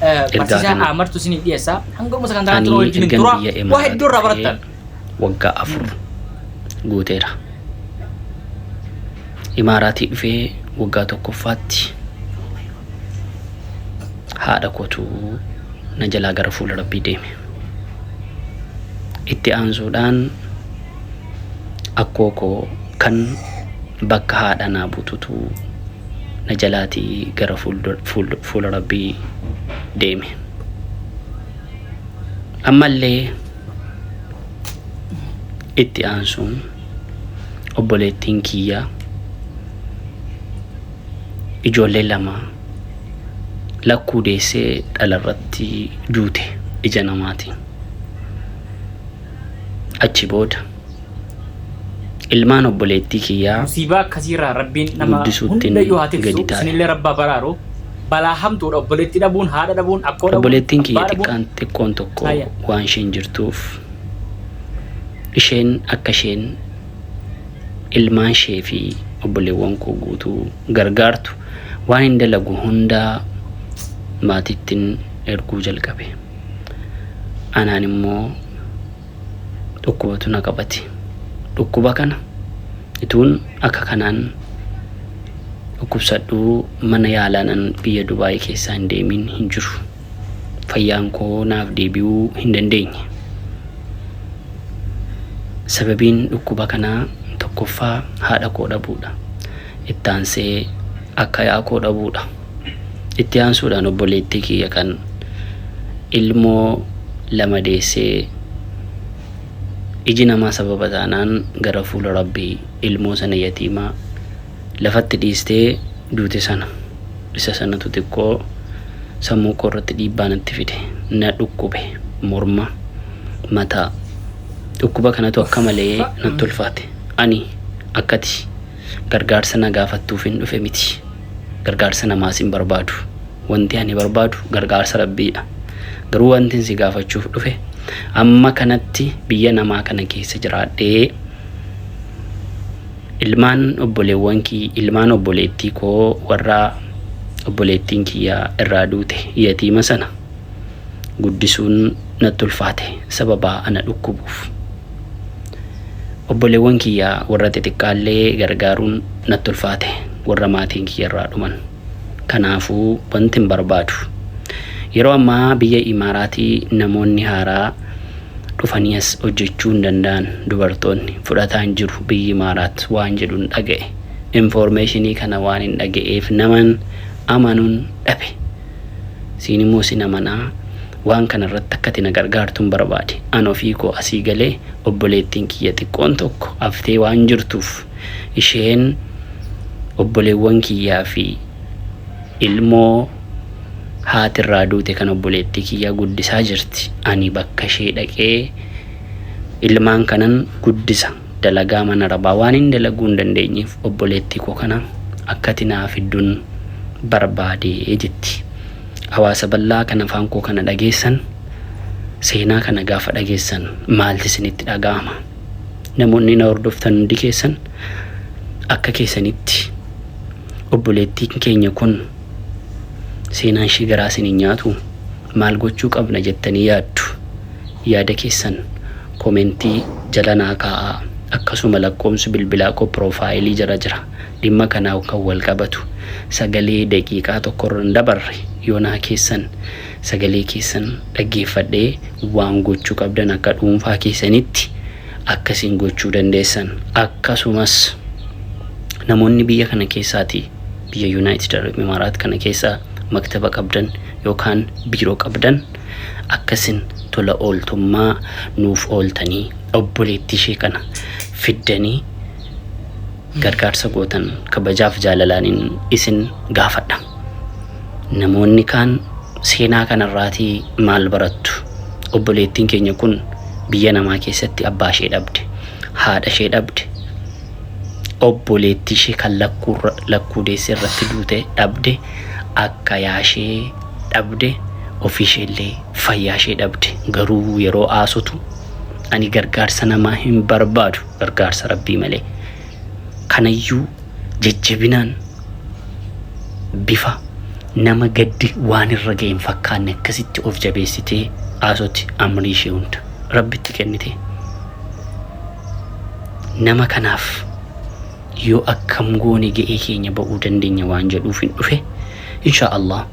Ergaa barsiisaa kana Amartu isiniif dhiyeessa. Hanga dhuma sagantaa kanatti nu ani wajjin hin ergan tura. biyya Waa Imaaraat hedduu irraa dhufee barattan. waggaa afur guuteera. Imaaraatii dhufee waggaa tokkoffaatti haadha kootu na jalaa gara fuula rabbii deeme. Itti aansuudhaan akkoo koo kan bakka haadha naa bututu na jalaati gara fuula rabbii deeme ammallee itti aansuun obboleettiin kiyya ijoollee lama lakkuu deessee dhalarratti duute ija namaatiin achi booda ilmaan obboleettii kiyyaa Musiibaa akkasiirraa Rabbiin nama guddisuuttin hundayyuu haa tiksu, gadi taa'e. isinillee Rabbi haa baraaru. Balaa hamtuudha obboleettii dhabuun, haadha dhabuun, akkoo dhabuun, Obboleettiin kiyya abbaa dhabuun. xiqqaan xiqqoon tokko Saaya. waan isheen jirtuuf isheen akka isheen ilmaan ishee fi obboleewwan koo guutuu gargaartu waanin dalagu hundaa maatiittin erguu jalqabe. Anaan immoo dhukkubatu na qabate. Dhukkuba kana ituun akka kanaan dhukkubsadhuu mana yaalaanan biyya Dubaayii keessaa hin deemiin hin jiru. Fayyaan koo naaf deebi'uu hin dandeenye. Sababiin dhukkuba kanaa tokkoffaa haadha koo dhabuudha. Ittaansee akkayaa koo dhabuu dha. Itti aansuudhaan obboleettii kiyya kan ilmoo lama deessee iji namaa sababa taanaan gara fuula Rabbii ilmoo sana yatiima lafatti dhiistee duute sana isa sanatu xiqqoo sammuu koo irratti dhiibbaa natti fide. Na dhukkube. Morma. Mataa. Dhukkuba kanatu akka malee natti ulfaate. Ani akkati. Gargaarsa na gaafattuufin dhufe miti. Gargaarsa namaas hin barbaadu. Wanti ani barbaadu gargaarsa Rabbiidha. Garuu wantin si gaafachuuf dhufe amma kanatti biyya namaa kana keessa jiraadhee ilmaan obboleewwan kii ilmaan obboleettii koo warra obboleettiin kiyya irraa duute yatiima sana guddisuun natti ulfaate sababa ana dhukkubuuf. Obboleewwan kiyya warra xixiqqaallee gargaaruun natti ulfaate warra maatiin kiyyarraa dhuman. Kanaafuu wanti hin barbaadu. Yeroo ammaa biyya Imaaraatii namoonni haaraa dhufanii as hojjechuu hin danda'an dubartoonni fudhataa hin jiru biyyi Imaaraat waan jedhun dhaga'e. Informeeshinii kana waanin dhaga'eef naman amanun dhabe. Siin immoo sin amanaa. Waan kana irratti akka ati na gargaartun barbaade. An ofii koo asii galee obboleettiin kiyya xiqqoon tokko haftee waan jirtuuf isheen obboleewwan kiyyaa fi ilmoo haati irraa duute kan obboleettii kiyyaa guddisaa jirti. Ani bakka ishee dhaqee ilmaan kanan guddisa. dalagaa mana rabaa waanin dalaguu hin dandeenyeef obboleettii koo kana akkati naa fiddun barbaade jetti. Hawaasa bal'aa kan afaan koo kana dhageessan seenaa kana gaafa dhageessan maalti isinitti dhaga'ama? Namoonni na hordoftan hundi keessan akka keessanitti obboleettiin keenya kun seenaan ishii garaa isin hin nyaatu? maal gochuu qabna jettanii yaaddu? Yaada keessan komentii jala naa kaa'aa. Akkasuma lakkoomsi bilbilaa koo piroofaayilii jala jira. Dhimma kanaan kan wal qabatu sagalee daqiiqaa tokko irra hin dabarre yoo naa keessan sagalee keessan dhaggeeffadhee waan gochuu qabdan akka dhuunfaa keessanitti akka isin gochuu dandeessan. Akkasumas namoonni biyya kana keessaatii biyya Yunaayitid Arab Imaaraat kana keessaa maktaba qabdan yookaan biiroo qabdan akka isin tola ooltummaa nuuf ooltanii obboleettii ishee kana fiddanii gargaarsa gootan kabajaaf jaalalaanin isin gaafadha. Namoonni kaan seenaa kanarraatii maal barattu? Obboleettiin keenya kun biyya namaa keessatti abbaa ishee dhabde, haadha ishee dhabde, obboleettii ishee kan lakkuu deesse irratti duute dhabde. akka yaashee dhabde ofiisheellee fayyaashee dhabde garuu yeroo aasotu ani gargaarsa namaa hin barbaadu gargaarsa rabbii malee kanayyuu jajjabinaan bifa nama gaddi waan irra ga'e hin fakkaanne akkasitti of jabeessitee aasoti amrii ishee hunda rabbitti kennite nama kanaaf yoo akkam goone ga'ee keenya ba'uu dandeenya waan jedhuuf hin dhufe insha Allah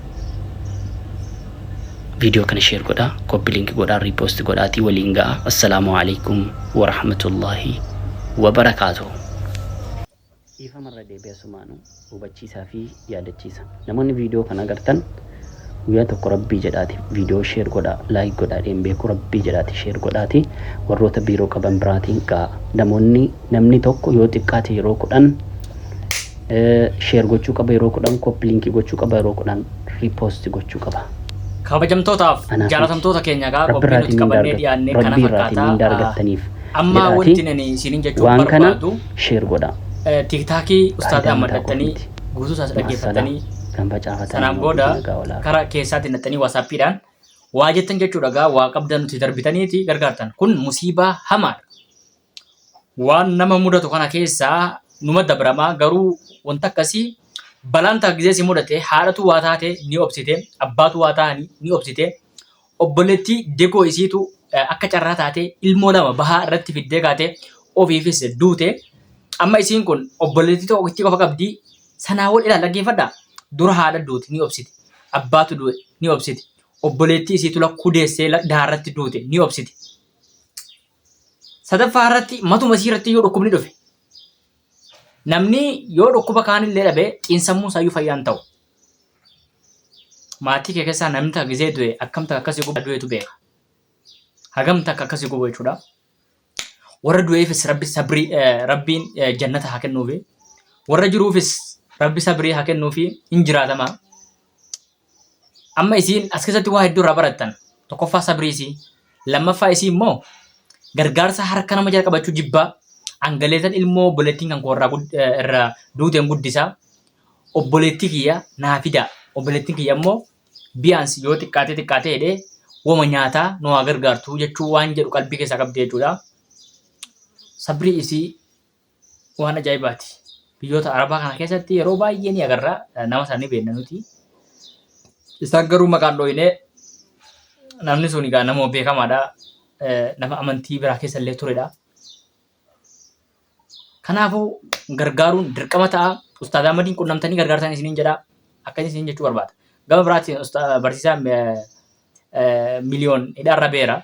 viidiyoo kana sheer godhaa koppi linki godhaa riipoosti godhaatii waliin ga'a assalaamu alaikum warahmatullaahi wabarakaatuhu dhiifamarra deebi'asumaanu hubachiisaa fi yaadachiisa namoonni video kana agartan guyyaa tokko rabbii jedhaati video share godhaa like godhaa dheen beeku rabbii jedhaati share godhaati warroota biiroo qaban biraatiin ga'a namoonni namni tokko yoo xiqqaate yeroo kudhan share gochuu qaba yeroo kudhan copy link gochuu qaba yeroo kudhan repost gochuu qaba kabajamtootaaf Anaaf miti. jaalatamtoota keenya gaa Rabbi qophii irraatiin nuti mindaa qabannee argattu. dhiyaannee kana Rabbi irraatiin mindaa fakkaataa argattaniif Amma jedhaatii wantin ani isinin jechuu waan kana barbaadu share godhaa. eh, tiktaakii ustaaza Qaayidaa mataa koof maddattanii miti. guutuu isaas Maassalaa dhaggeeffattanii kan facaafatanii sanaan immoo booda guddina gaa olaaf. kara keessaatti naxxanii waasaappiidhaan waa jettan jechuudha gaa waa qabdan nuti darbitaniiti gargaartan kun musiibaa hamaadha. waan nama mudatu kana keessaa numa dabramaa garuu wanta akkasii balaan ta'a gizee si mudate haadhatu waa taate ni obsite abbaatu waa ta'ani ni obsite Obboleettii Dekoo isiitu akka carraa taatee ilmoo lama bahaa irratti fiddee kaatee ofiifis duute. Amma isiin kun obboleettii tokkittii qofa qabdi. Sanaa ol ilaal dhaggeeffadhaa. Dura haadha duute ni obsite. Abbaatu du'e ni obsite. Obboleettii isiitu lakkuu deessee dahaa irratti duute ni obsite. Sadaffaa irratti matuma isii irratti iyyuu dhukkubni dhufe. Namni yoo dhukkuba kaanillee dhabe xiinsammuu isaayyuu fayyaan ta'u. Maatii kee keessaa namni takka gisee du'e akkam takka akkasii gubaa du'etu beeka. Hagam takka akkasii gubu jechuudha. Warra du'eefis rabbi sabrii eh, rabbiin eh, jannata haa kennuufi. Warra jiruufis rabbi sabrii haa kennuufi hin jiraatama. Amma isiin as keessatti waa hedduu irraa barattan. Tokkoffaa sabrii isii. Lammaffaa isii immoo gargaarsa harka nama jala qabachuu jibbaa. Angaleetan ilmoo obboleettiin kan koo irraa gud- eh, irraa duuteen guddisaa. obboleettii kiyya naa fidaa obboleettiin kiyya immoo biyaansi yoo xiqqaatee xiqqaatee jedhee woma nyaataa nu haa gargaartu jechuu waan jedhu qalbii keessaa qabdi jechuudha. Sabrii isii waan ajaa'ibaati. Biyyoota Arabaa kana keessatti yeroo baay'ee ni agarra nama sana ni beekna nuti. Isaan garuu maqaan dhooyinee namni sun egaa nama beekamaadha. Nama amantii biraa keessa illee turedha. Kanaafuu gargaaruun dirqama ta'a. Ustaaz Ahmadiin qunnamtanii gargaartan isiniin jedha. Akkasii isiniin jechuu barbaada. Gama biraatiin usta- barsiisaa eh, eh, miliyoon hidhaarra beera.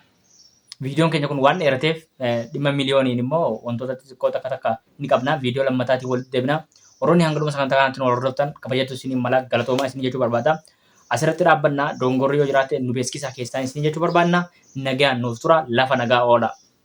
Viidiyoon keenya kun waan dheerateef eh, dhimma miliyooniin immoo wantoota xixiqqoo takka takka ni qabna. Viidiyoo lammataatiin walitti deebina. Warroonni hanga dhuma sagantaa kanaatti nu hordoftan kabajatu isiniin mala galatoomaa isin jechuu barbaada. Asirratti dhaabbanna dongorri yoo jiraate nu beeksisaa keessaan isin jechuu barbaanna. Nagaan nuuf tura lafa nagaa oola.